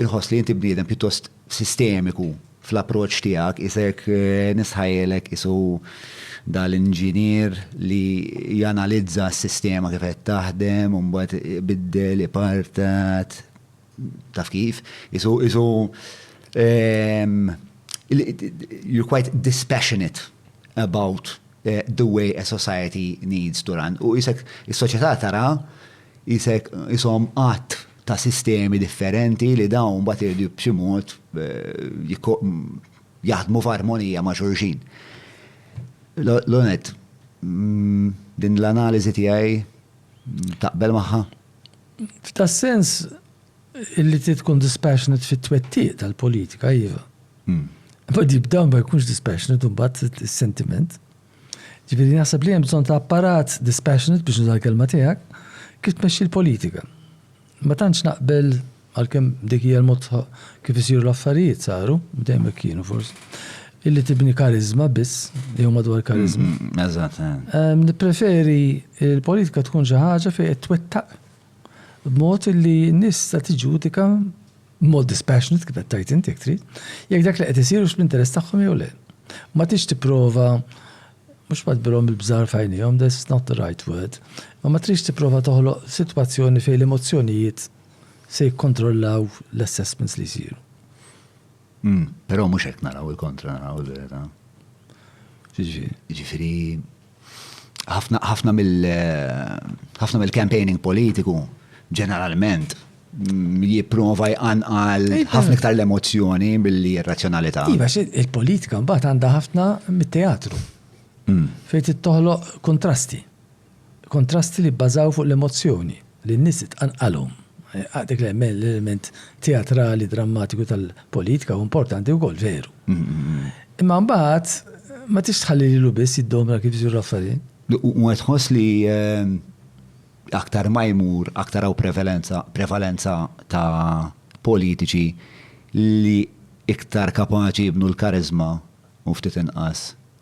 Inħoss li inti bniedem pjuttost sistemiku fl-approċċ tiegħek, isek nisħajlek isu dal-inġinier li janalizza s-sistema kif qed taħdem, u mbagħad ibiddel, ipartat, taf kif, isu isu you're quite dispassionate about the way a society needs to run. U isek is-soċjetà tara isek ishom qatt ta' sistemi differenti li dawn mbagħad iridu b'xi mod jaħdmu f'armonija ma' xulxin. L-onet, din l-analiżi tiegħi taqbel magħha? F'tas-sens li trid tkun dispassionate fit-twettiq tal-politika, iva. Imma b'dan ma jkunx dispassionate imbagħad is-sentiment. Ġifieri naħseb li hemm bżonn ta' apparat dispassionate biex nuża l-kelma tiegħek kif tmexxi l-politika. Ma tantx naqbel għalkemm dik hija l-mod kif isiru l-affarijiet saru, dejjem hekk kienu forsi. Illi tibni kariżma biss, jew madwar kariżma. Mm, eżatt. Eh. Nippreferi l-politika tkun xi ħaġa fejn qed twettaq b'mod illi n-nies ta' tiġudika b'mod dispassionate kif qed tgħid int jekk trid, jekk dak li qed isir hux fl-interess tagħhom jew le. Ma tridx tipprova mhux ma tbirhom il-bżar f'għajnejhom, that's not the right word, imma ma tridx tipprova toħloq sitwazzjoni fejn l-emozzjonijiet se jikkontrollaw l-assessments li jsiru. Però mhux hekk naraw il-kontra naraw il-verità. Ġifieri. Ġifieri ħafna mill-campaigning politiku ġeneralment jipprova jqanqal ħafna iktar l-emozzjoni billi r-razzjonalità. Iva, il-politika mbagħad għandha ħafna mit-teatru. Mm. Fejn tittoħloq kontrasti. Kontrasti li bbażaw fuq l-emozzjoni. li n-nies tqanqalhom. Dak l-element teatrali, drammatiku tal-politika hu importanti wkoll, veru. Imma mbagħad ma tridx tħalli lilu biss jiddomna kif isiru l-affarijiet. U qed tħoss li aktar ma jmur, aktar hawn prevalenza, prevalenza ta' politiċi li iktar kapaċi jibnu l-kariżma u ftit inqas